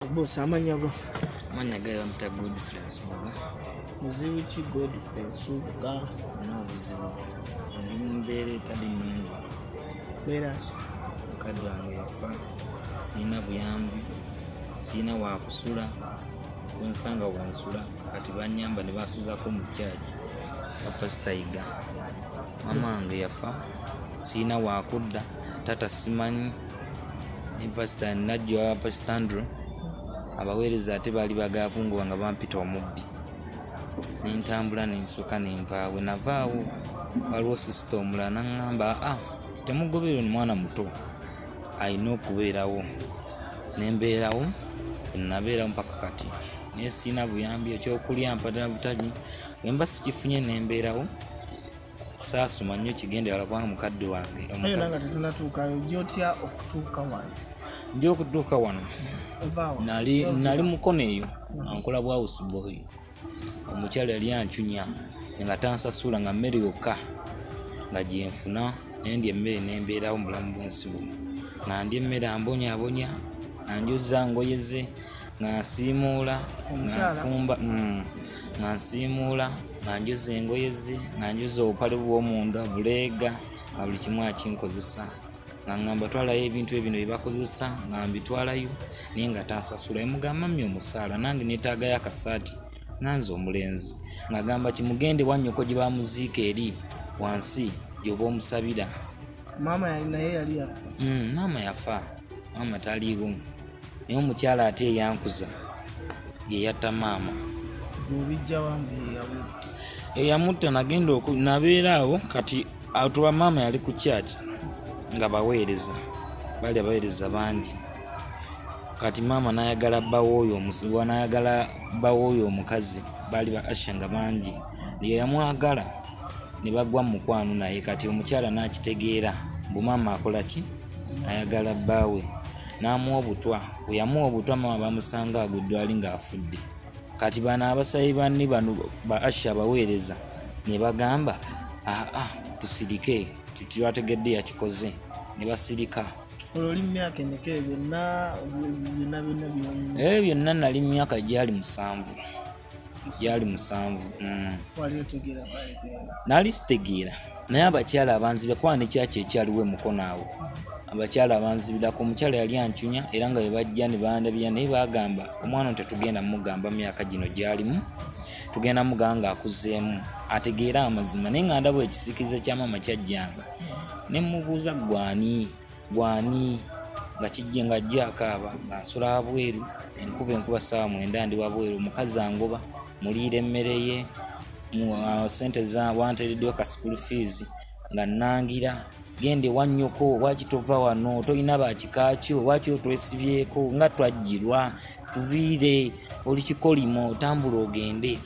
Boss amanya go. Amanya ga yamta good friends muga. Muzibu ki good friends muga. No buzibu. Ndi mumbere tadi mungu. Bera so. Kadu ange yafa. Sina buyambi. Sina wa kusula. Wensanga wa nsula. Kati banyamba ne basuza ko mu church. Papa Staiga. Mama ange yafa. Sina wa kudda. Tata simanyi. ne pasita najjo aba pasita andrew abaweereza ate baali bagakunguba nga bampita omubbi nentambula nensoka nenvaawe navaawo waliwo sisita omulala naŋŋamba a ah, temugoberera omwana muto alina okubeerawo nembeerawo enabeerawo mpaka kati naye siina buyambi ekyokulya mpadala butagi wemba sikifunye nembeerawo saasoma nnyo kigenderala kubanga mukadde wange nga tetunatuukayo jotya okutuuka wano nja okutuuka wano nali nali mukono eyo ankola bwawusiboy omukyala yali ancunya nga tansasula nga mmere yokka nga gyenfuna naye ndi emmere nembeerawo mubulamu bwensi buno nga ndi emmere ambonyabonya anjuza ngoyeze nga nsiimuula nga nfumba mm, nga nsiimuula nga njuza engoye ze nga njuza obupale bw'omunda buleega nga buli kimu akinkozesa nga ngamba twalayo ebintu ebino bye bakozesa nga mbitwalayo naye nga tansasula emugamba mi omusaala nange neetaagayo akasaati nanze omulenzi ng'agamba kimugende wannyoko gye bamuziika eri wansi gy'oba omusabira maama naye yali yafa mm, maama yafa maama taliiwo naye omukyala ate eyankuza yeyatta maama eyamutta nagenda nabeera awo kati atuba maama yali ku kyaki nga baweereza bali abaweereza bangi kati maama nayagala bawooyo nayagala bawooyo omukazi baali ba asha nga bangi yeyamwagala ne bagwa mu mukwano naye kati omukyala n'akitegeera mbu maama akola ki ayagala bbaawe n'amuwa obutwa bwe yamuwa obutwa maama bamusanga agudde ali ng'afudde kati bano abasayi banni bano ba asha abaweereza ne bagamba aa ah, ah, tusirike tutwategedde yakikoze ne basirika olwo oli mumyaka emeka byonna byonna byonna byonna eh, byonna nali mumyaka gyali musanvu gyali musanvu mm. nali sitegeera naye abakyala abanzibira kuba nekyakyo ekyaliwo emukono awo abakyala abanzibirako omukyala yali ancunya era nga webajja nebandabira naye bagamba omwana ono tetugenda mugamba myaka gino gyalimu tugenda mugamba nga akuzeemu ategeere amazima naye nga ndaba ekisikiza kyamaama kyajjanga nemubuuza gwani gwani nga kijja nga ajja akaaba nga nsula abweru enkuba enkuba saawa mwenda ndi wabweru omukazi angoba muliira emmere ye uh, sente za wanteereddwa ka school fees nga nnangira genda ewanyoko waki tova wano tolina bakikakyo waki otwesibyeko nga twajjirwa tuviire oli kikolimo otambula ogende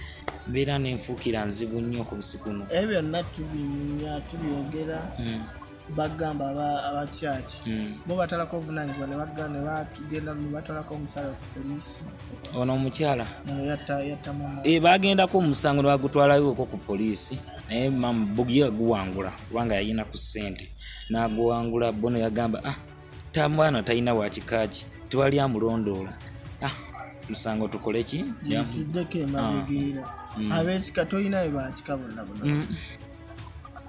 mbeera nenfuukira nzibu nnyo ku busikuno ebyo byonna tubinya tubyogera hmm. bagamba aba church hmm. bo batalako obuvunanyizibwa nebatugenda nebatwalako omukyala ku polisi ono omukyala eh, bagendako omusango nebagutwalayooko ku polisi naye mama bugi aguwangula kubanga yayina ku sente naguwangula bono yagamba ah tamwana talina wakikaki tewali amulondoola ah musango tukoleki tuddeko emabigera ah. hmm. abekika tolinayo bakika bonna bona hmm.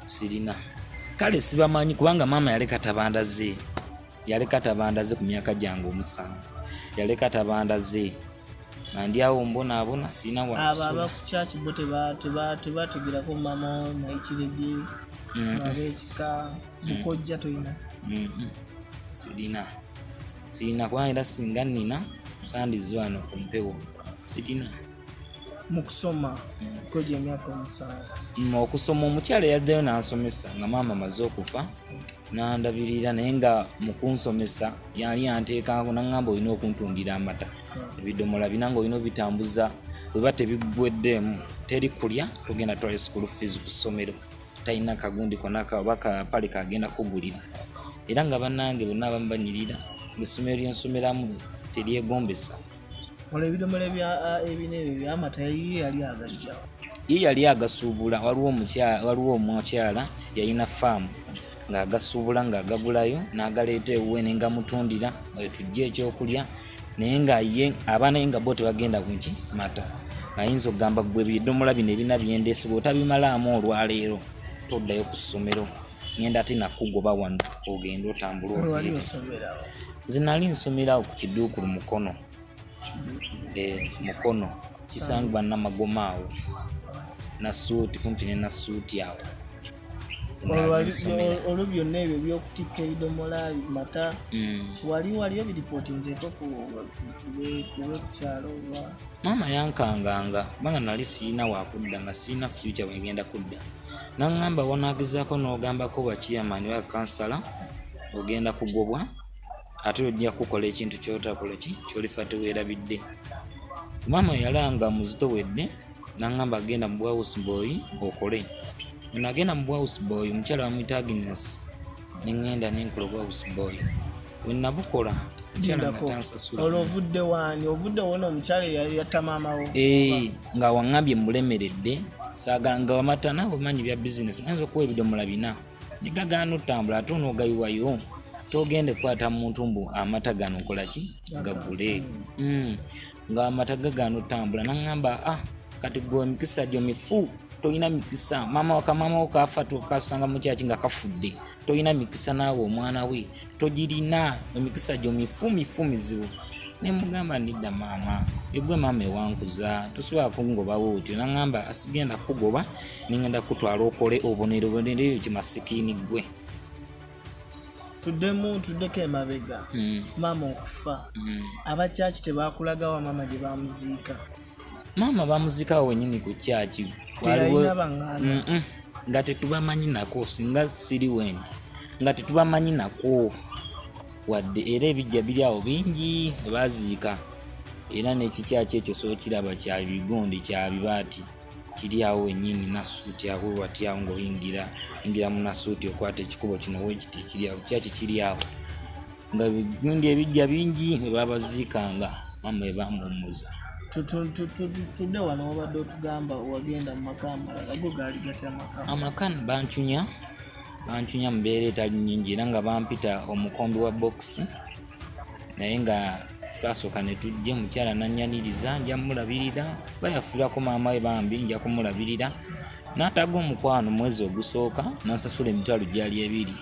sirina kale sibamanyi kubanga maama yaleka tabanda ze yaleka tabanda ze ku myaka gyange omusanvu yaleka tabanda ze nandyawo mbonaabona sirina waabo abakukyaki bo tebategerako maama naikirege abekika mukojja toyina sirina sirina kubanga era singa nina sandiziwano ku mpewo sirina mu kusoma kwejo emyaka omusanvu mm, okusoma omukyala yajjayo n'ansomesa nga maama amaze okufa n'andabirira naye nga mu kunsomesa yali anteekako naŋŋamba olina okuntundira amata mm. ebidomola bina nga olina obitambuza bweba tebigweddeemu teri kulya tugenda twali school fees ku ssomero talina kagundi konaka oba kapale kagenda kugulira era nga bannange bonna abamu banyirira ngaessomero lyensomeramu teryegombesa olwo ebidomola ebina ebyo byamata ye yali agajja ye yali agasuubula waliwo omukyala yalina faamu ng'agasuubula ng'agagulayo n'agaleeta ewuwe ne ngamutundira oyo tujja ekyokulya naye nga ye abaana ye nga bo tebagenda kuki mata ayinza okugamba gwe bidomola bino ebina byendesi bwe otabimalaamu olwaleero toddayo ku ssomero ngenda ate nakugoba wano ogenda otambula zinali nsomerawo ku kiduukulu mukono eh, mukono kisangibwa namagoma awo nasuuti kumpi ne nasuuti awo olwo byonna ebyo byokutikka ebidomola mata mm. wali waliyo biripotinzeko kubekukyalo maama yankanganga kubanga nali sirina wakudda nga sirina fyuca wengenda kudda nangamba wanagezaako n'ogambako bwa chairman wa kansala ogenda kugobwa ate ojja kukola ekintu kyotakola ki kyolifa teweerabidde maama yalanga muzito wedde nangamba agenda mu bwausboy okole ono agenda mu bwausboy omukyala wamuyita agness ne ŋŋenda ne nkola obwa house boy we nabukola olwo ovudde waani ovudde wona omukyala yatta maamawo eh, nga waŋambye mulemeredde saagala nga wamatana omanyi bya bizinesi ayinza okuwa ebidomola bina negagaana otambula ate onoogayiwayo togende kwata muntu mbu amata gano nkolaki gagule hmm. nga amata gagaana otambula naŋŋamba ah kati gwe emikisa gyo mifu tolina mikisa maama wakamamawo kafa tukasanga mukyaki nga kafudde tolina mikisa naawe omwana we togirina emikisa gyo mifu mifu mizibu nemugamba ndidda maama egwe maama ewankuza tosobola kungobawo otyo naŋamba asigenda kugoba nengenda kutwala okole obonero bonero eyo kimasikini gwe tuddemu tuddeko emabega mm. maama okufa mm. abakyaki tebakulagawa maama gye bamuziika maama bamuziikawo wenyini ku kyaki nga tetubamanyi nako singa siri wendi nga tetubamanyi nako wadde era ebijja biri awo bingi baziika era n'ekikyaki ekyo sookiraba kyabigondi kyabibaati kiri awo wenyini nasuuti awo wewati awo ngaoyingira ingira munasuuti okwata ekikubo kino wekiti kiri awo kyaki kiri awo nga bigundi ebijja bingi webabaziikanga mama ebamuwumuza tudde wano wabadde otugamba wagenda mu maka amalala go gaali gati amaka amaka bancunya bancunya mubeera etali nyingi era nga bampita omukombi wa bokisi naye nga twasooka ne tujja omukyala nanyaniriza nja mulabirira bayafuirako maama we bambi nja kumulabirira n'ataga omukwano mwezi ogusooka nansasula emitwalo gyali ebiri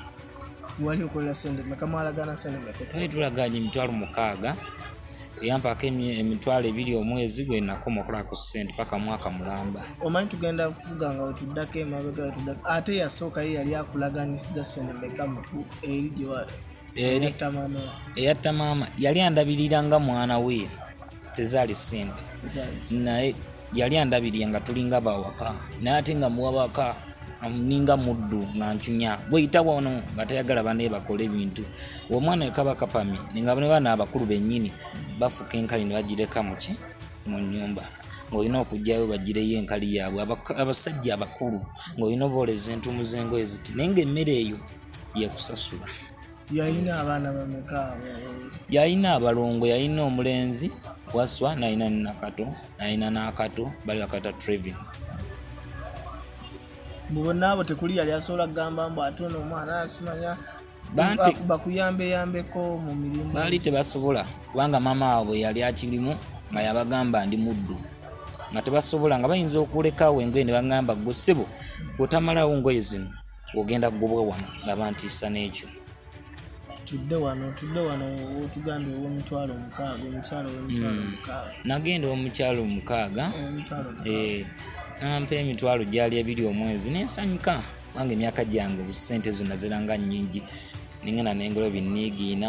wali okola sente meka mwalagana sente meka twali tulaganye emitwalo mukaaga eyampaako emitwalo ebiri omwezi gwe nakoma okola ku sente paka mwaka mulamba omanyi tugenda kuvuga nga wetuddako emabega wetuddako ate yasooka ye yali akulaganisiza sente meka eri gyewa eri eyatta maama yali andabirira nga mwana we tezaali sente naye yali andabirira nga tulinga bawaka naye ate nga muwabaka ninga muddu nga ncunya gweyita wano nga tayagala bane bakola ebintu omwana wekaba kapami ninga bane bana abakulu benyini bafuka enkali ne bagireka muki mu nyumba ng'olina okugyayo bagireyo enkali yaabwe abasajja abakulu ng'olina obaoleza entumu z'engoye ziti naye ngaemmere eyo yekusasula yalina abaana bameka yalina abalongo yalina omulenzi waswa nalina nakato nalina nakato bali bakata trevin mubona abo tekuli yali asobola kugamba mbu ate ono omwana asimanya bakuyambeyambeko mu mirimu baali tebasobola kubanga maama waabwe yali akirimu nga yabagamba ndi muddu nga tebasobola nga bayinza okulekawo engoye ne bagamba gwe ssebo otamalawo ngoye zino ogenda kugobwa wano nga bantiisa n'ekyo tudde wano tudde wano otugambye ow'omutwalo omukaaga omukyalo ow'omutwalo hmm. omukaaga nagenda ow'omukyalo omukaaga eh, nampa emitwalo gyali ebiri omwezi nensanyuka kubanga emyaka gyange obusente zonna ziranga nnyingi nengana nengolo binniigiina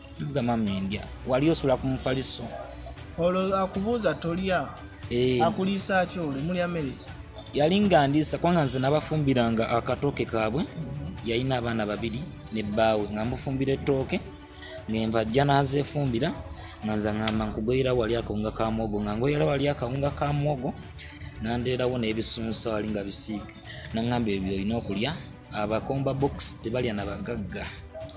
tugamba mendya wali osula ku mufaliso olwo akubuuza tolya eh. akuliisa ki olwo mulya mereki yali nga ndiisa kubanga nze nabafumbiranga akatooke kaabwe yalina abaana babiri ne bbaawe nga mufumbira ettooke ngenva ajja nazefumbira nga nze ngamba nkugoyera wali akawunga ka mwogo nga ngoyera wali akawunga ka mwogo nandeerawo n'ebisunsa wali nga bisiiga nangamba ebyo olina okulya abakomba box tebalya na bagagga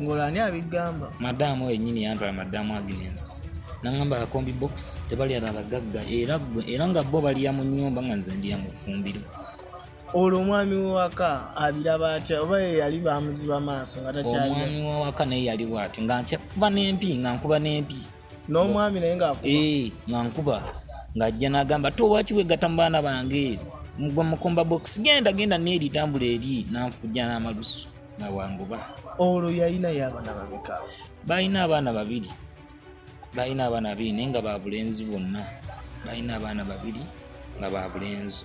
ngolani abigamba madamu oyo nyini yantwala madamu agnes nangamba akombi box tebalya na bagagga era era nga bo balya mu nyumba nga nze ndiya mu fumbiro olwo omwami wewaka abiraba atya oba ye yali bamuziba maaso nga takyali omwami wewaka naye yali bwatyo nga nkuba n'empi nga nkuba n'empi n'omwami naye ngaakuba eh, nga nkuba ng'ajja n'agamba te owaki wegatta mu baana bange mugwa mukomba box genda genda neeri tambula eri nanfujja n'amalusu nga wanguba olwo yalinayo abaana babika balina abaana babiri balina abaana babiri naye nga babulenzi bonna balina abaana babiri nga babulenzi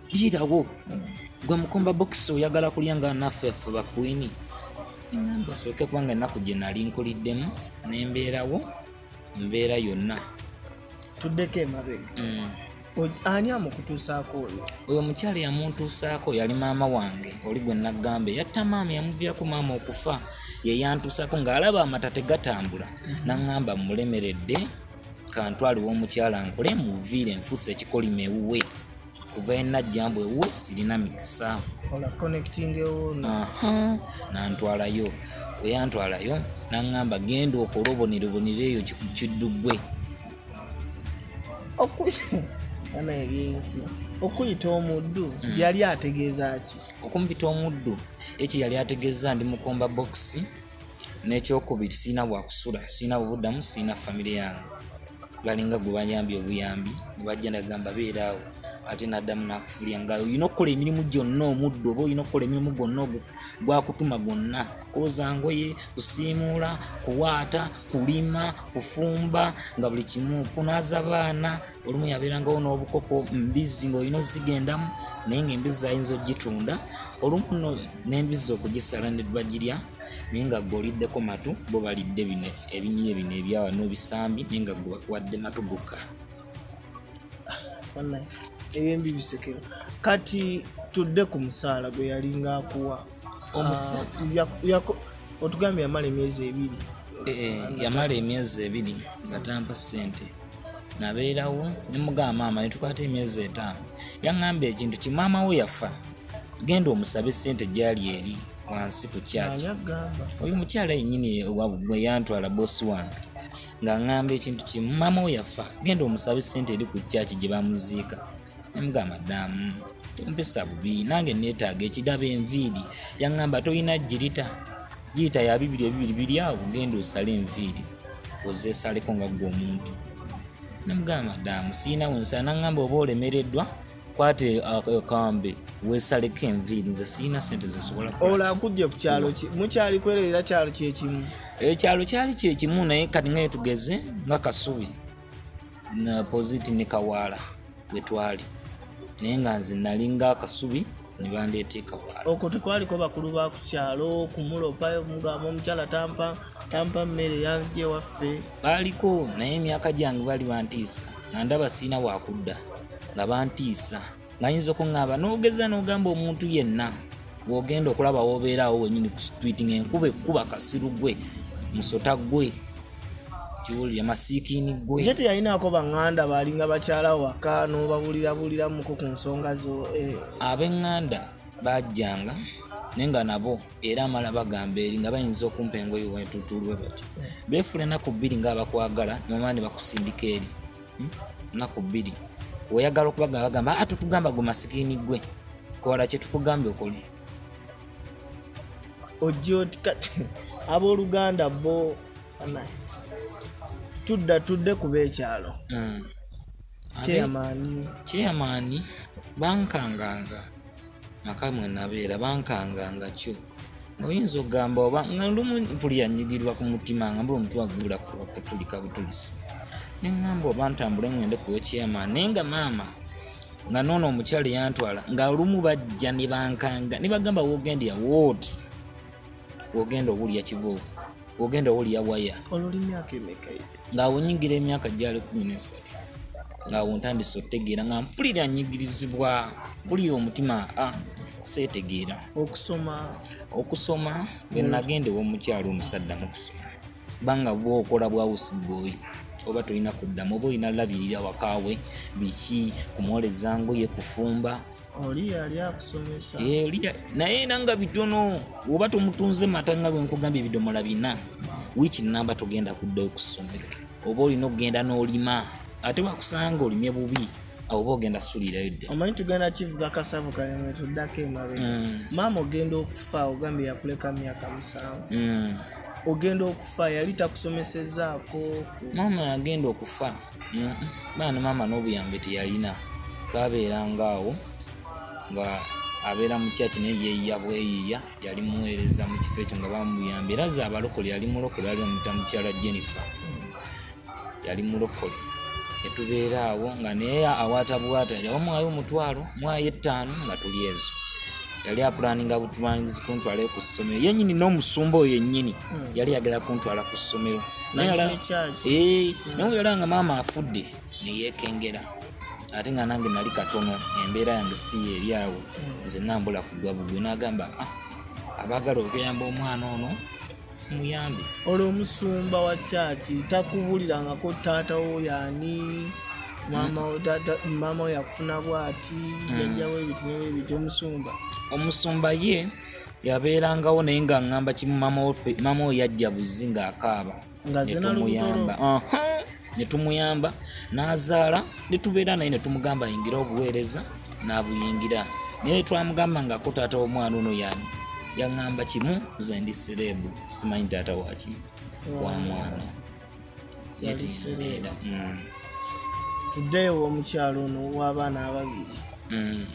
birawo gwe mukomba bokisi oyagala kulya nga naffe ffe bakwini engamba sooke kubanga ennaku gye nali nkuliddemu nembeerawo mbeera yonna tuddeko emabega mm. ani amukutuusaako oyo oyo mukyala yamuntuusaako yali maama wange oli gwe naggamba eyatta maama yamuviirako maama okufa yeyantuusaako ng'alaba amata tegatambula mm. naŋŋamba mulemeredde kantwaliwo omukyala nkole muviire nfuusa ekikolima ewuwe kuva enajja mbu ewuwe sirina mikisa nantwalayo weyantwalayo naŋŋamba genda okola obonirobonire eyo kidduggwe ana ebyensi okuyita omuddu hmm. gyeyali ategeeza ki okumpita omuddu ekyo yali ategeeza ndi mukomba bokisi n'ekyokubiri sirina wakusula sirina bubuddamu sirina famire yange balinga gwe bayambye obuyambi ne bajja nagamba beeraawo ate naddamu nakufulya nga olina okukola emirimu gyonna omuddu oba olina okukola emirimu gwonna gwakutuma gwonna kwoza ngoye kusiimuula kuwaata kulima kufumba nga buli kimu kunaza baana olumu yabeerangawo n'obukoko mbizzi ng'olina ozigendamu naye ng'embizzi ayinza okugitunda olumu no n'embizzi okugisala ne bagirya naye nga gwe oliddeko matu bo balidde bino ebinyiye bino ebyawa n'obisambi naye nga gwe bakuwadde matu gokka ebyembi bisekero kati tudde ku musaala gwe yalinga akuwa ah, otugambye yamala emyezi ebiri eh, eh, yamala emyezi ebiri nga tampa ssente nabeerawo ne mugamba maama ne tukwata emyezi etaano yaŋŋambye ekintu ki maama wo yafa genda omusabe ssente gyali eri wansi ku kyaki oyo omukyala yennyini gwe yantwala boosi wange ng'aŋŋamba ekintu kimu maama wo yafa genda omusabe ssente eri ku kyaki gye bamuziika Mbwa madamu mpisa bubi nange neetaaga ekidaba enviiri yaŋŋamba tolina girita girita ya bibiri ebibiri biri awo genda osale enviiri ozesaleko nga ggwe omuntu namugamba madamu siina wensala naŋŋamba oba olemereddwa kwata akambe wesaleko enviiri nze siina sente zesobola ola nkujje ku kyalo ki mukyali kwererera kyalo kyekimu ekyalo kyali kyekimu naye kati ngaye tugeze nga kasubi poziti ne kawaala bwe twali naye nga nze nalinga akasubi ne bandeeta ekawaala okwo tekwaliko bakulu ba ku kyalo kumulopayo mugamba omukyala tampa tampa mmere yanzija ewaffe baaliko naye emyaka gyange bali bantiisa nga ndaba siina wakudda nga bantiisa ng'ayinza okuŋŋamba n'ogeza n'ogamba omuntu yenna bw'ogenda okulaba w'obeeraawo wenyini ku street ng'enkuba ekkuba kasiru gwe musota gwe kiwulire masiikiini gwe ye teyalinaako baŋŋanda baalinga bakyala waka n'obabulirabuliramuko ku nsonga zo eh. ab'eŋŋanda bajjanga naye nga nabo era amala bagamba eri nga bayinza okumpa engoyi wentutulwe batyo beefula enaku bbiri ngaabakwagala nomala ne bakusindika eri hmm? naku bbiri weyagala okubagamba bagamba ate ah, tugamba gwe masikini gwe kola kyetukugambye okole ojja oti kati abooluganda bo tudda tudde kuba ekyalo hmm. kyeyamaani kyeyamaani bankanganga maka mwe nabeera bankanga nga kyo oyinza okugamba oba nga lumu mpuli yanyigirwa ku mutima nga mbula omutwe agula kutulika butulisi neŋŋamba oba ntambule ŋŋende ku wekyama naye nga maama nga noono omukyala yantwala nga lumu bajja ne bankanga ne bagamba wogendera wooti ogenda owulira kibooko ogenda owulira waya ng'awo nyingira emyaka gyali kumi n'esatu ng'awo ntandise okutegeera nga mpulira nyigirizibwa mpulira omutima a ah, seetegeera okusoma okusoma bwe nagenda ew'omukyalo omusadda mu kusoma banga bwokola bwa usiboi oba tolina kuddamu oba olina labirira wakaawe biki kumwoleza ngoye kufumba oli yali akusomesa eh, naye era nga bitono oba tomutunze mata nga bwenkugambye ebidomola bina wiiki namba togenda kuddayo ku ssomero oba olina okugenda n'olima ate wakusanga olimye bubi oba ogenda sulirayo dda omanyi tugenda kivuga kasavu kayamwe tuddako emabe mm. maama ogenda okufa ogambye yakuleka myaka musanvu mm. ogenda okufa yali takusomesezaako maama yagenda okufa mm, baana maama n'obuyambi teyalina twabeeranga awo nga abeera mu kyaki naye yeeyiya bweyiiya yali muweereza mu kifo ekyo nga bamuyambi era za abalokole yali mulokole ali omuta mukyala jennifer yali mulokole netubeera awo nga naye awaata bwata yaba mwayo omutwalo mwayo ettaano nga tuli ezo yali apulaninga butulanizi kuntwala ku ssomero yenyini n'omusumba oyo yennyini hmm. yali yagala kuntwala ku ssomero eh, naye oyala nga maama afudde neyekengera ate nga nange nali katono embeera yange si eri awo hmm. nze nambula kugwa bugwe nagamba ah, abagala okuyamba omwana ono muyambe olwo omusumba wa kyaki takubulirangako taata wo yani maama yakufuna bwati mm. yajjawo ebiti nebyo ebiti omusumba omusumba ye yabeerangawo naye nga ŋŋamba kimu maama oyo yajja buzzi ng'akaaba netumuyamba ne tumuyamba n'azaala ne tubeera naye ne tumugamba ayingira obuweereza n'abuyingira naye twamugamba ngako taata w'omwana ono yani yaŋŋamba kimu nze ndi sereebu simanyi taata waki wa mwana yatusuleera mm. tuddeyo omukyalo ono w'abaana ababiri mm.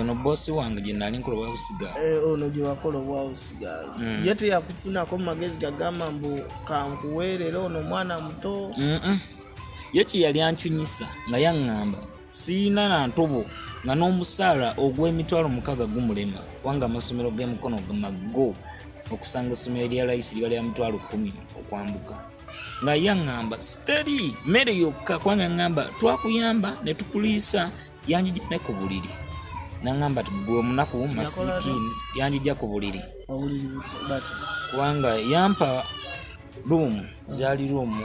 ono bosi wange gyenali nkola obwausigaal eh, ono gyewakola obwausigaal mm. ye teyakufunako mumagezi gagamba mbu kankuweerera ono omwana muto ye kyeyali ancunyisa nga yaŋŋamba siyina na ntobo nga n'omusaala ogw'emitwalo mukaaga gumulema kubanga amasomero g'emukono maggo okusanga essomero erya layisi liba lya mitwalo kumi okwambuka nga ye aŋŋamba siteri mmere yokka kubanga aŋŋamba twakuyamba ne tukuliisa yanjija ne ku buliri naŋŋamba ti gwe omunaku masikiini yanjija ku buliri kubanga yampa ruumu zaali ruumu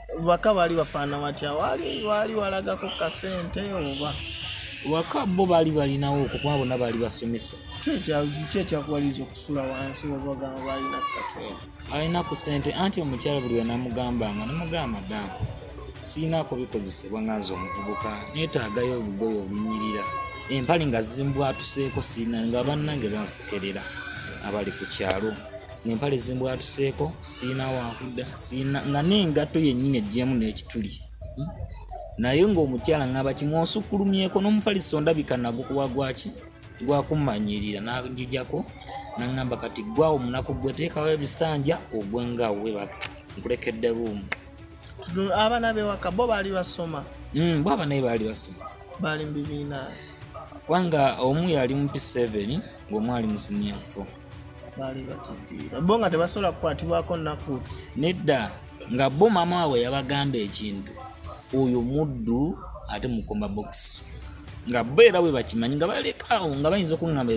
waka baali bafaana watya waali waali walagako kasente oba waka bo baali balinawo okukuba bonna baali basomesa kyekyakuwaliza okusula wansi obagamba alina kasente alina ku sente anti omukyala buli wenamugambanga namugamba damu siinaako bikozesebwa nga nze omuvubuka netaagayo obugoyo obunyirira empale nga zimbwatuseeko siina nga bannange bansekerera abali ku kyalo ng'empale zimbwatuseeko sirina wakudda sirina nga n'engatto yennyini ejjemu n'ekituli hmm? naye ng'omukyala ng'aba kimwosukkulumyeko n'omufaliso ondabika nagukuwa gwaki gwakumanyiirira nagijako naŋŋamba kati gwawo munaku gwe teekawo ebisanja ogwe nga webaka nkulekedde ruumu abaana bewaka bo baali basoma hmm, bo abanaye baali basoma baali mu bibiina kubanga omu yali mu p7 ng'omu ali mu siniya 4 baali batupiira bo nga tebasobola kukwatibwako nnaku nedda nga bo maama waabwe yabagamba ekintu oyo muddu ate mukoma bokisi nga bo era bwe bakimanyi nga balekaawo nga bayinza okuŋŋamba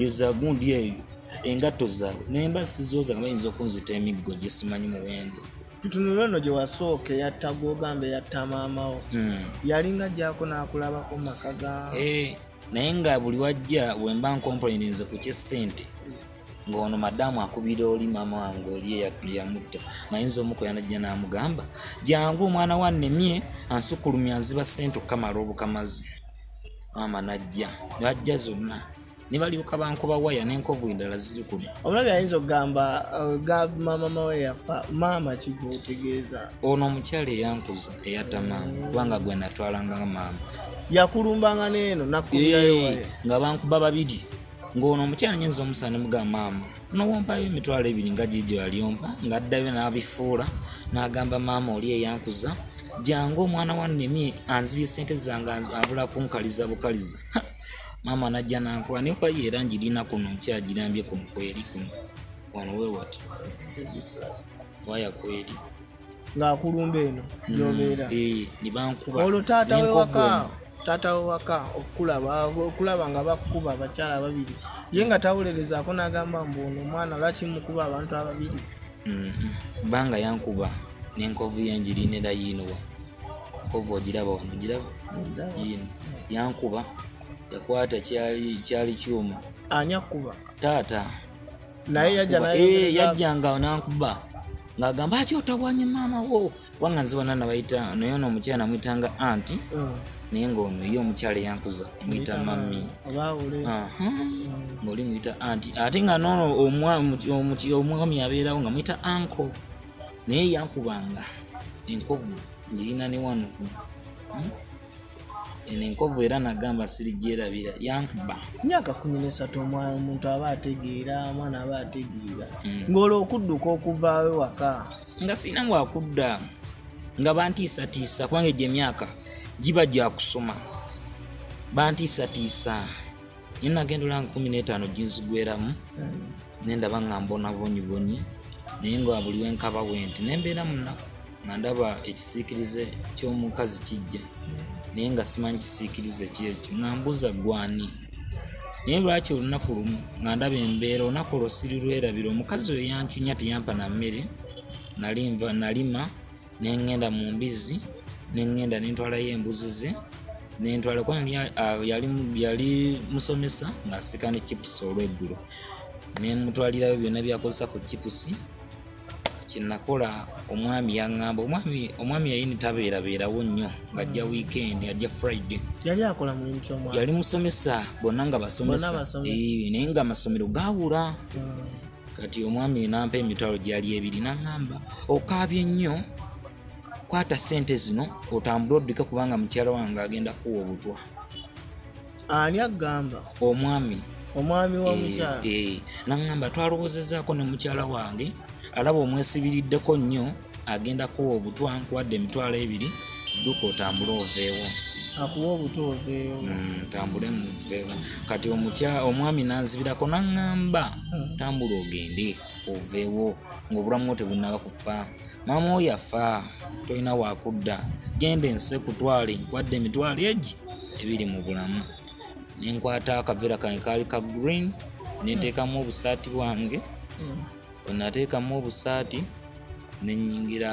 yozagundi eyo engatto zaabwe naye mba sizooza nga bayinza okunzita emiggo gye simanyi muwendo tutunula ono gye wasooka eyatta gwogamba eyatta maamawo hmm. yalinga gyako n'akulabako maka ga eh, naye nga buli wajja wemba nkomploininze ku kyesente ng'ono madamu akubira oli maama wange oli eyamutta mayinza omuko yanajja n'amugamba jangu omwana wa nemye ansukulumya nziba sente okukamala obukamazi maama najja najja zonna nebalyoka bankuba waya nenkovu endala ziri kuno omulabi ayinza okugamba uh, maama mawe yafa maama kigwotegeeza ono omukyala eyankuza eyata maama kubanga gwe natwalanga maama yakulumbanga neeno nakuyayo nga bankuba babiri ng'ono omukyala nyinza omusana ne mugamba maama nowompayo emitwalo ebiri nga gigi alyompa ng'addayo n'abifuula n'agamba maama oli eyankuza jangu omwana wa nemi anzibye sente zange abula kunkaliza bukaliza maama najja nankuba naye kwayo era ngirina kuno nkyagirambye kuno kweri kuno wano wewati waya kweri ng'akulumba eno mm, gyobeera eh, olwo taata wewaka taata wewaka okukulaba okulaba nga bakukuba abakyala babiri ye nga tawulerezaako n'agamba mbu ono omwana lwaki mukuba abantu ababiri kubanga mm, mm. yankuba n'enkovu yengirinera yiinowa enkovu ogiraba wano giraba yiino yankuba yakwata kyali kyuma ani akuba taata naye yajja naye eh yajja nga onankuba ngagamba ati otawanye mama wo wanga nziwa nana bayita naye ono omukyala namuyitanga anti mm. naye ngaono ye omukyala yankuza muyita mami ngaoli muyita anti ate nga nono omwami abeerawo nga muyita anko naye yankubanga enkovu ngirina ne wano hmm? eno enkovu era nagamba sirigyerabira yankuba myaka kumi nesatu omwana omuntu aba ategeera omwana aba ategeera mm. ngaolwo okudduka okuvaawe waka nga sirina wakudda nga bantiisatiisa kubanga egyo emyaka giba gyakusoma bantiisatiisa nyo nagenda olanga kumi netaano ginzigweramu mm. ne ndaba nga mbona bonyibonyi naye nga buli wenkaba wenti ne mbeera munaku nga ndaba ekisiikirize ky'omukazi kijja naye nga simanyi kisiikirize kyekyo nga mbuza gwani naye lwaki olunaku lumu nga ndaba embeera olunaku olwo sirirwerabira omukazi oyo yancunya teyampa na mmere nali nva nalima ne ŋŋenda mu mbizzi ne ŋŋenda ne ntwalayo embuzi ze ne ntwala kuba yali musomesa ng'asika ne chipusi olweggulo ne mutwalirayo byonna byakozesa ku chipusi kyenakola omwami yaŋŋamba omwami omwami yayini tabeerabeerawo nnyo ng'ajja mm. wiikendi ajja friday yali akola mulimu kyomwami yali musomesa bonna nga basomesa naye ng'amasomero gaawula mm. kati omwami nampa emitwalo gyali ebiri naŋamba okaabye nnyo kwata sente zino otambule oddika kubanga mukyala wange agenda kuwa obutwa ani agamba omwami omwami wa eh, mukyala eh, naŋamba twalowoozezaako ne mukyala wange alaba omwesibiriddeko nnyo agenda kuwa obutwa nkuwadde emitwalo ebiri dduka otambule oveewo akuwa obuto oveewo mm, tambule muveewo kati omukya omwami nanzibirako naŋŋamba hmm. tambula ogende oveewo ng'obulamu tebunaba kufa maama oyo afa tolina wakudda genda ensi ekutwale nkwadde emitwalo egi ebiri mu bulamu nenkwata akaveera kange kaali ka green nenteekamu obusaati bwange hmm. bwe nateekamu obusaati ne nnyingira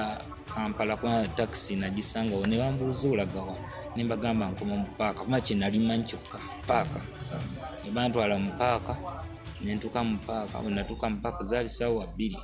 Kampala kuba takisi nagisangawo ne bambuuza olagawa ne mbagamba nkoma mu paaka kuba kye nali manyi kyokka paaka ne bantwala mu paaka ne ntuuka mu paaka bwe natuuka mu paaka zaali ssaawa bbiri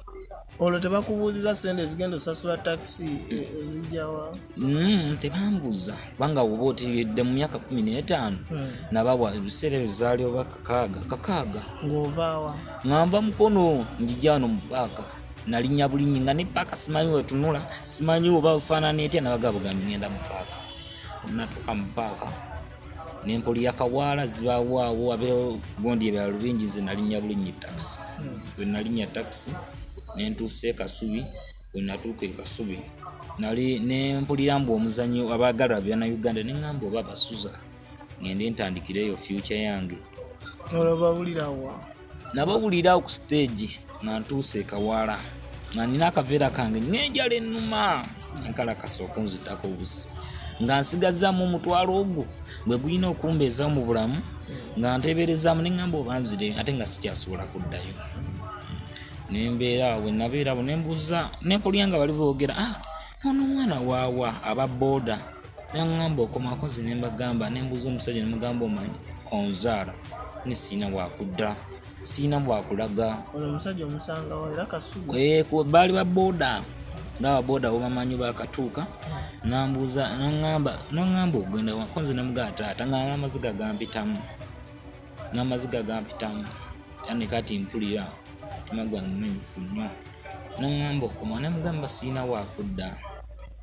olwo tebakubuuziza sente ezigenda osasula takisi e, ezijjawa mm, tebambuuza kubanga oba otiridde mu myaka kumi n'etaano hmm. nabawa ebiseera ebyo zaali obaka kakaaga kakaaga ng'ovaawa ng'anva mukono njija wano mu paaka nalinnya bulinnyi nga ne paaka simanyi wetunula simanyi oba bufaanana etya nabaga bugambi ngenda mu paaka natuuka mu paaka nempoli yakawaala zibawaawo abeewo gondi ebala lubingi nze nalinnya bulinnyi takisi hmm. bwe nalinnya takisi nentuusa ekasubi bwe natuuka ekasubi nali nempulira mbu omuzanyo abagala byana uganda neŋamba oba basuza ngende ntandikireeyo future yange olabawulirawa nabawulira ku stage nga ntuuse ekawala nga nina akaveera kange nenjala enuma enkalakasa okunzitako obusi nga nsigazaamu omutwalo ogwo gwe gulina okumbeeza mu bulamu nga nteeberezaamu neŋamba obanzire ate nga sikyasobola kuddayo nembeera wenabeera bo nembuuza nekulya nga bali boogera ah, ono omwana waawa aba boda naŋŋamba okomakozi ne mbagamba ne mbuuza omusajja ne mugamba omanyi onzaala ne siina wakudda siina bwakulaga baali ba boda ngaba boda wobamanyi bakatuuka nambuuza naŋŋamba naŋŋamba ogenda wakonze ne mugaa taata ng'amaziga gampitamu n'amaziga gampitamu yani kati mpulira omutima gwange mumenyifu nnyo naŋŋamba okoma namugamba sirina wakudda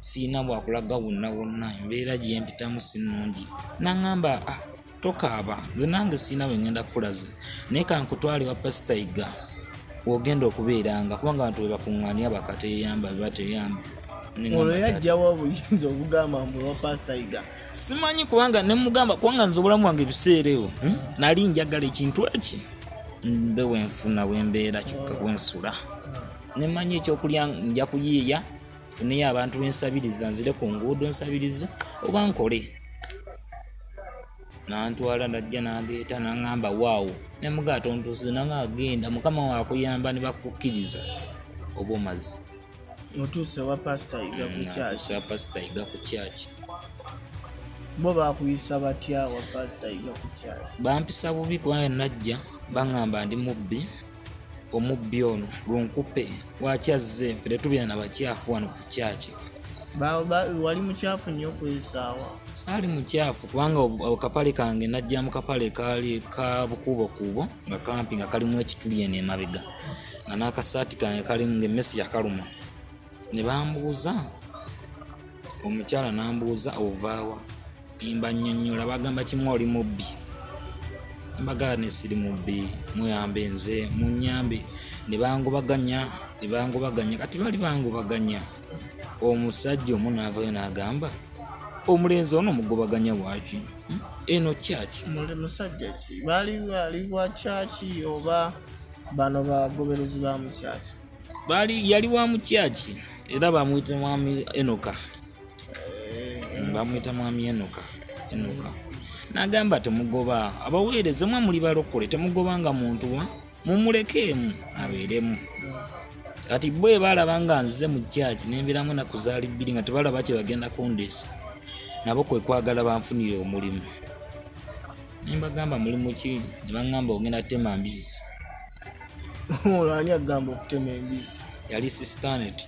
sirina wakulaga wonna wonna embeera gyempitamu si nnungi naŋŋamba ah, tokaaba nze nange sirina we ŋŋenda kukulaze naye kankutwale wa pasita yiga wogenda okubeeranga kubanga abantu webakuŋŋaania bakateyamba bebateyamba ono yajjawo obuyinza obugamba mbu wa pasita yiga simanyi kubanga nemugamba kubanga nze obulamu bwange ebiseera ewo hmm? nali njagala ekintu eki mbe wenfuna wembeera kyokka wensula nemanyi ekyokulya nja kuyiiya funeyo abantu bensabiriza nzire ku nguudo nsabiriza oba nkole nantwala najja nandeeta nangamba waawo nemugatontusize nanga agenda mukama wakuyamba nebakukkiriza oba omazi otuuse wa pasita yiga ku kyaki mm, pasita yiga ku kyaki bo bakuyisa batya wa pasita yiga ku kyaki bampisa bubi kubanga najja baŋŋamba ndi mubbi omubbi ono gunkupe lwaki azze nfe tetubeera na bakyafu wano ku kyaki wali mukyafu nnyo okwesaawa saali mukyafu kubanga akapale kange najja mu kapale kaali ka bukuubokuubo nga kampi nga kalimu ekituli eno emabega nga n'akasaati kange kalimu ng'emmesi yakaluma ne bambuuza omukyala n'ambuuza ovaawa emba nnyonnyola bagamba kimu oli mubbi mbagala ne siri mubbi muyambe nze munyambe ne bangubaganya ne bangubaganya kati bali bangubaganya omusajja omu n'avayo n'agamba omulenzi ono mugobaganya waki hmm? eno kyaki musajja ki bali wali wa kyaki oba bano bagoberezi ba mukyaki bali yali wa mukyaki era bamuyita mwami enoka eh. bamuyita mwami enoka enoka nagamba temugoba abaweereza omwe muli balokole temugobanga muntu wa mumulekeemu abeeremu kati bo ebalaba nga nzize mu kyaki nembeeramu nakuzaali bbiri nga tebalaba kyebagenda kundeesa nabo kwekwagala banfunire omulimu ne mbagamba mulimu ki ne baŋŋamba ogenda kutema mbizzi ono ani agamba okutema embizzi yali sistanet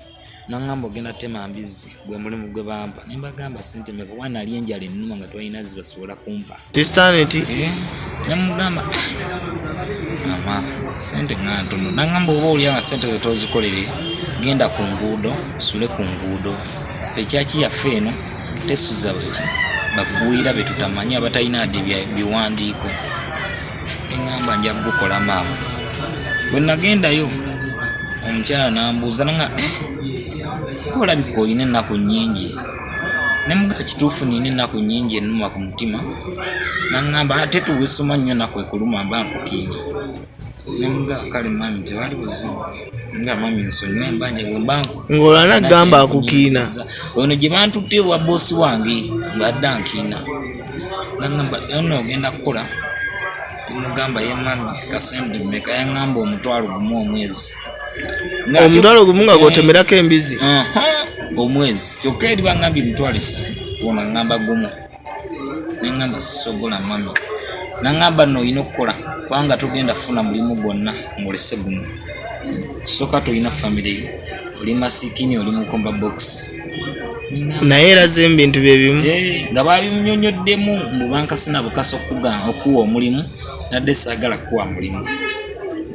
naŋŋamba ogenda kutema mbizzi gwe mulimu gwe bampa ne mbagamba sente meka kuba nali enjala ennuma nga twalina zibasobola kumpa sistanet eh, ne mugamba mama sente nga ntono naŋŋamba oba olya nga sente zetozikolere genda ku nguudo sule ku nguudo fekyaki yaffe eno tesuza bweki bakuwulira betutamanyi abatalina adi biwandiiko eŋamba nja kugukola maama bwe nagendayo omukyala nambuuza nanga eh, kolabika olina ennaku nyingi nemugaa kituufu nina ennaku nyingi enuma ku mutima naŋamba ate tuwisoma nnyo naku ekuluma mba nkukiina ng'olwana gamba akukiina ono gye bantutte ewa boosi wange ng'adda nkiina nagamba ono ogenda kukola mugamba ye mami kasendi meka yaŋŋamba omutwalo gumu omwezi omutwalo gumu nga gwotemerako embizi omwezi kyokka eri baŋambye emitwalo esatu ona ŋŋamba gumu nengamba sisobola mami nangamba no olina okukola kubanga tugenda funa mulimu gwonna ngolese guno soka tolina famiry yo oli masikini oli mukomba box naye eraze ebintu byebimu eh, nga babimunyonyoddemu mubankasina bukasa okuga okuwa omulimu nadde sagala kuwa mulimu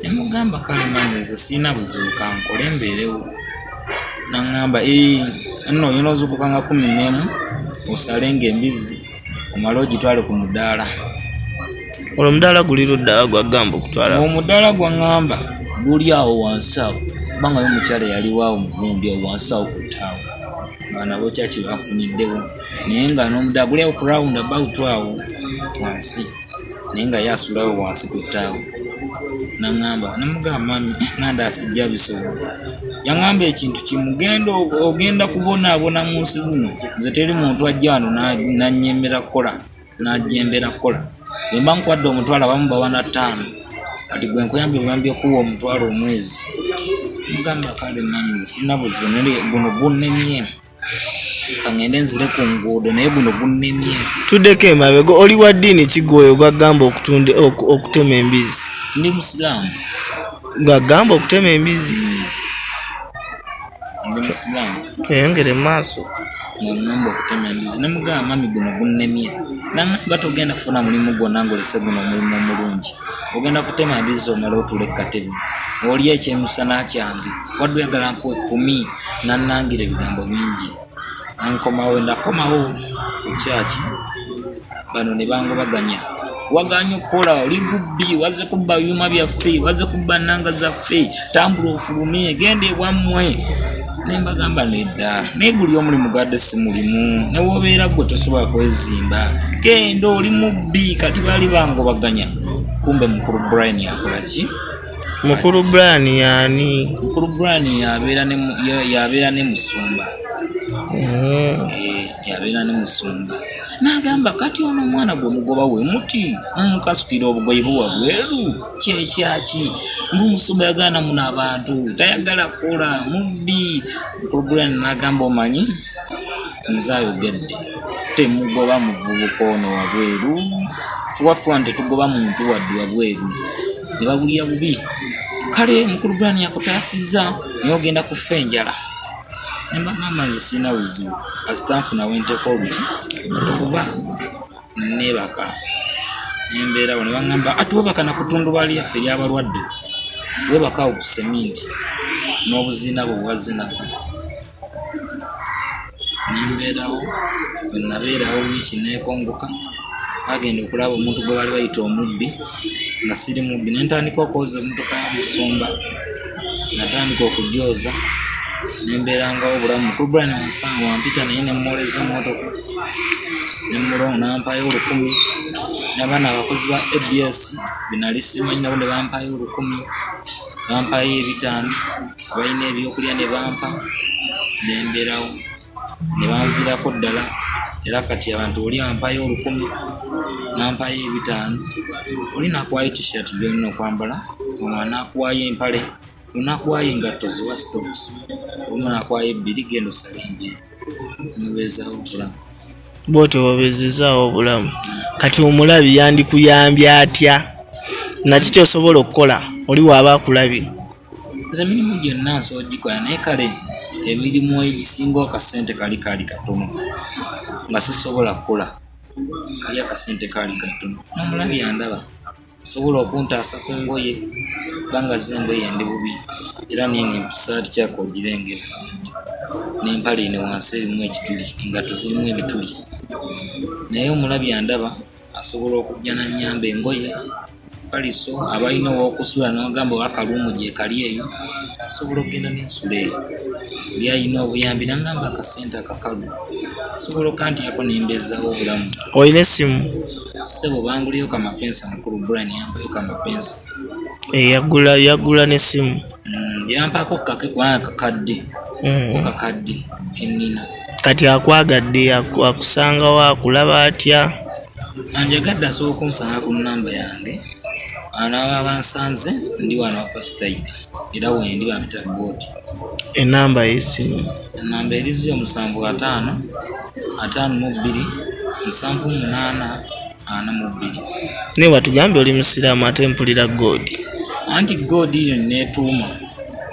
nemugamba kale manyize sirina buzibu kankole mbeerewo naŋŋamba nno oyina ozukuka nga kumi nemu osale nga embizzi omale ogitwale ku mudaala olwo omudaala guli ludda gwagamba okutwala omudaala gwaŋŋamba guli awo wansi awo kubanga yo omukyala yaliwaawo mugundi awo wansi awo ku ttaawo abaana bokyaki bafuniddewo naye nga n'omudaala guli awo ku rawundi abawutu awo wansi naye nga ye asula awo wansi ku ttaawo. N'aŋŋamba ne mmugamba mami nga ndaba sijja bisobola. Yaŋŋamba ekintu kimu genda ogenda kubonaabona mu nsi muno nze teri muntu ajja wano n'annyemera kukola n'anjeemera kukola. Bwe mba nkuwadde omutwalo abamu bawa na ttaano kati gwe nkuyambye buyambi okukuwa omutwalo omwezi. Mmugamba kale mami nze sirina buzibu naye guno gunnemye. kangende nzire ku nguudo naye guno gunnemye tuddeko emabega oli wa ddiini kigwoyo gwagamba okutunda okutema embizzi ndi musiraamu gwagamba okutema embizzi hmm. ndi musiraamu tweyongere mu maaso ngamba okutema embizzi nemugamba mami guno gunnemye nangamba togenda kufuna mulimu gwonna ngolese guno omulimu omulungi ogenda kutema embizzi omala otula ekkatebe olya ekyemisana kyange wadde oyagala nkuwa ekkumi nanangira ebigambo bingi nankomawo nakomawo ku kyaki bano ne bangobaganya waganye okukola oli gubbi waze kubba byuma byaffe waze kubba nanga zaffe tambula ofulume genda ewammwe nembagamba nedda naye guli omulimu gadde si mulimu newobeera gwe tosobola kwezimba genda oli mubbi kati baali bangobaganya kumbe mukulu brian akolaki mukulu brian yaani mukulu brian yabeera ne musumba mm. eh, yabeera ne musumba nagamba kati ono omwana gwe mugoba we muti mukasukira mm, obugoyi buwa bweru kyekyaki ngaomusumba yagaana muno abantu tayagala kkola mubbi mukulu brian nagamba omanyi Nze ayogedde temugoba muvubuka ono wabweru kuba ffe wano tetugoba muntu wadde wabweru ne babulya bubi kale mukulu brani yakutaasizza naye ogenda kufa enjala ne mbagamba nze sirina buzibu kasita nfuna we nteeka oluti kuba neebaka ne mbeerawo ne baŋŋamba ati weebaka na kutundubaali yaffe eryabalwadde weebaka awo ku seminti n'obuziina bwe bwazina nembeerawo wenabeerawo wiiki nekongoka agenda okulaba omuntu gwe bali bayita omubbi nga siri mubbi nentandika okwoza emotoka ya musumba natandika okujooza nembeerangawo obulamu mukulu brian wansanga wampita naye nemumwoleza emotoka nemulongo nampayo olukumi nabaana abakozi ba abs benali simanyi nabo nebampayo olukumi bampayo ebitaano abalina ebyokulya ne bampa nemberawo ne banvirako ddala era kati abantu oli ampayo olukumi nampayo ebitaano oli nakwayo tishirt byolina okwambala omu anakwayo empale onakwayo engatto ziwa stocks omu nakwayo ebbiri genda osale enviiri. nebezawo obulamu bwotyo bwebezizaawo obulamu kati omulabi yandikuyambye atya naki kyosobola okukola oli waaba akulabye nze mirimu gyonna nsobola ogikola naye kale emirimu egisinga akasente kali kaali katono nga sisobola kukula kali akasente kaali katono nomulabi andaba Osobola okuntaasa ku ngoye kubanga zo engoye ndi bubi era n'eno essaati kyako ogirengera n'empale eno wansi erimu ekituli engatto zirimu ebituli naye omulabi andaba asobola okujja n'annyamba engoye kaliso abalina ow'okusula n'ogamba oba kaluumu gyekali eyo osobola okugenda n'ensula eyo oli alina obuyambi n'aŋŋamba akasente akakalu osobola okanteekako ne mbeezaawo obulamu. Olina essimu? Ssebo banguleyo ka mapensa mukulu Brian yambayo ka mapensa. Eh yagula yagula ne simu. Mm, yampako kake kwa kakadde. Mm. Kakadde kenina. Kati akwagadde akusanga wa kulaba atya. Anjagadde asobola kunsanga ku namba yange. Anaaba bansanze ndi wano pastor Iga. era wendi bampita god enamba yesimu enamba erizi omusanvu ataano ataano mu bbiri nsanvu munaana ana mu bbiri naye watugambye oli musiraamu ate mpulira god anti god yo netuuma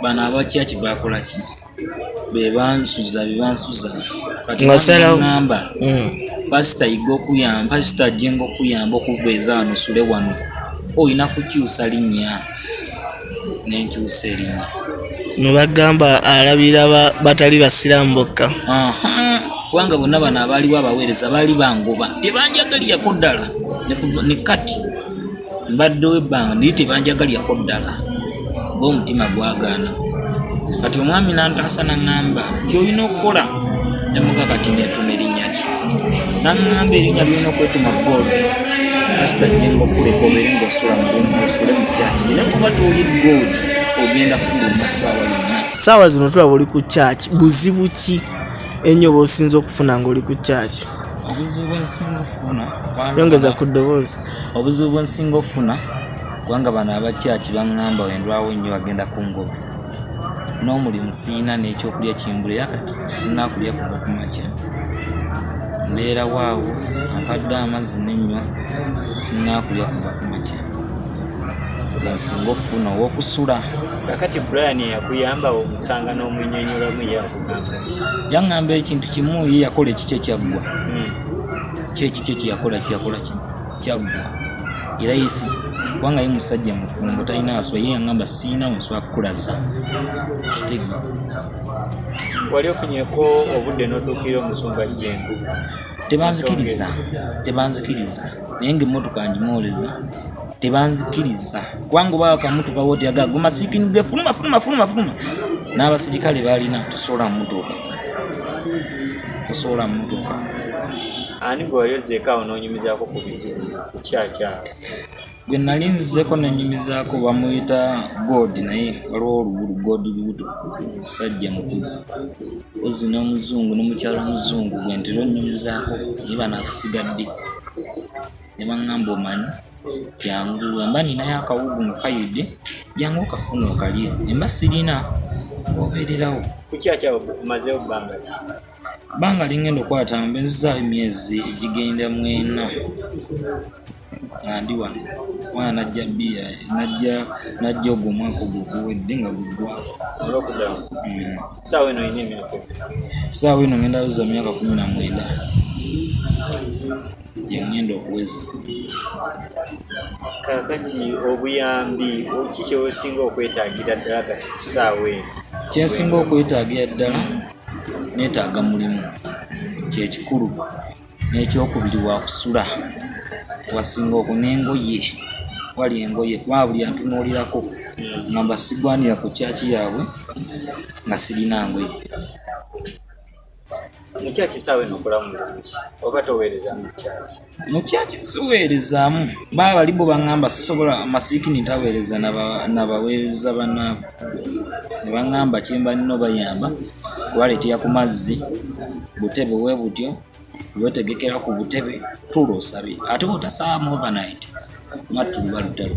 bano abakyaki bakolaki bebansuza bebansuza katiamba mm. pasita yiga okuyamba pasita ajenga okuyamba okubeeza wano sule wano olina kukyusa linnya nenkyusa erinnya nebagamba alabira batali basiramu bokka kubanga bonna bano abaaliwo abaweereza baali bangoba tebanjagaliyako ddala ne kati Mbaddewo ebbanga naye tebanjagalyako ddala ng'omutima gwagaana. Kati omwami n'antaasa n'aŋŋamba ky'olina okukola ne muga kati neetuuma erinnya ki? N'aŋŋamba erinnya ly'olina okwetuuma Gold kasita gye ng'okuleka obeere ng'osula mu lumu osule mu kyaki era kuba toli Gold ogenda fuluma ssaawa yonna. Ssaawa zino tulaba oli ku kyaki buzibu ki ennyo bw'osinze okufuna ng'oli ku kyaki? Obuzibu bwe nsinga okufuna yongeza ku ddoboozi. obuzibu bwensinga okufuna kubanga bano abakyaki baŋŋamba wendwawo nnyo bagenda kungoba n'omulimu siina n'ekyokulya kimbulira kati sinakulya kuva ku makya mbeerawo awo ampadde amazzi nenywa sinakulya kuva ku makya ensinga okufuna owokusula kakati brian yakuyamba omusanga n'omunyonyolamu yakugamba yaŋŋamba ekintu kimu ye yakola ekikye kyaggwa hmm. kyekikyo kyeyakola kyeyakola kyaggwa era yesi kubanga ye musajja mufumbo talina aswa ye yangamba siina nswa kukulaza kitega wali ofunyeko obudde notuukira omusumba jengu tebanzikiriza tebanzikiriza naye nga emmotoka njimuoleza tebanzikiriza kubanga oba akamutukawo tyagaga gumasikinigwe fuluma fuluma fuluma fuluma n'abasirikale balina tusobola mumotoka tosobola mutuka ani gwe wali ozzeekaawo n'onyumizaako ku bizibu kukyakyawo gwe nali nzizeeko nenyumizaako bamuyita god naye waliwo olugulu god lubuto musajja mukulu ozi n'omuzungu n'omukyala omuzungu gwe ntera onyumizaako naye bana abasigadde ne baŋŋamba omanyi jangu wemba ninayo akawugu nga kayidde jangu okafuna okalye emba sirina obeererawo banga lingenda okwata mbe nzizaayo emyezi egigenda mu ena nga ndi wano mwana najja bbiya najja najja ogwo omwaka ogwo guwedde nga guggwako saawa eno ngenda luza myaka kumi na mwenda gye ŋŋenda okuweza kakati obuyambi ki kyeosinga okwetagira ddala kati kusaawa eno kyensinga okwetagira ddala netaaga mulimu kyekikulu n'ekyokubiri wakusula wasinga oku nengoye wali engoye kuba buli antunuulirako nga mbasigwanira ku kyaki yaabwe nga sirina ngoye mukyaki saawa eno okolamu bulungi oba toweereza mukyaki mukyaki siweerezaamu baa bali bo baŋŋamba sisobola masiikini ntaweereza nabaweereza banaabo ne baŋŋamba kyemba nina obayamba kubaleetera ku mazzi butebe we butyo wetegekera ku butebe tuula osabe ate otasaamu overnight mattuluba lutalo